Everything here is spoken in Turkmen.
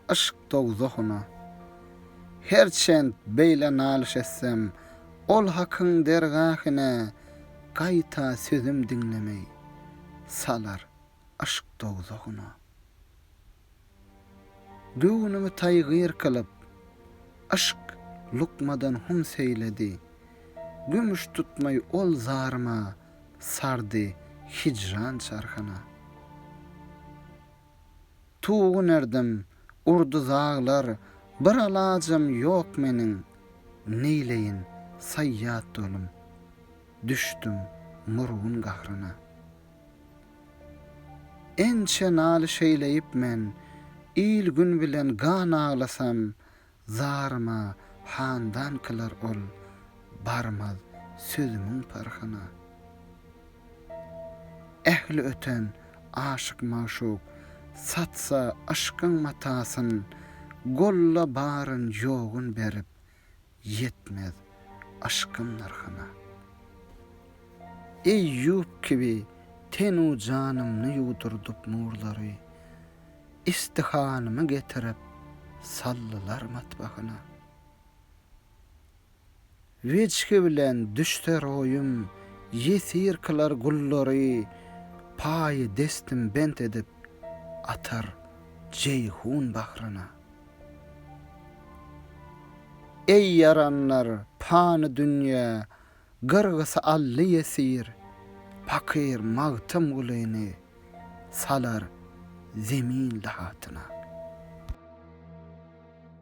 Yşk dowzahyna Herçent beýle nalyş etsem, Ol Hakyň dergahyna Gaýta sözüm diňlemey, Salar yşk dowzahyna. Göwnümi taýgyr kylyp, Yşk lukmadan hum seýledi, Gümüş tutmaý ol zaryma, sardy hijran çarhyna. Tugun erdim, urdy zaglar, bir alajam ýok meniň, neýleýin, saýýat dolum, düşdüm murgun gahryna. Ençe naly şeýleýip men, il-gün bilen gan aglasam, Zaryma handan kylar ol, barmaz sözümiň parhyna. Ähli öten aşyk-magşuk, satsa yşkyň matasyn, golla baryn ýogyn berip, ýetmez yşkym nyrhyna. Eýýup kibi tenu janymny ýuwdurdyp nurlary, Istihalmy getirip saldylar matbahyna. Wejhi bilen düşder oýum ýesir kylar gullary paýy destim bent edip atar Jeýhun bahryna. Eý ýaranlar pany dünýä Gyrgysy aldy ýesir, pakyr Magtymgulyny salar zemin lahatyna.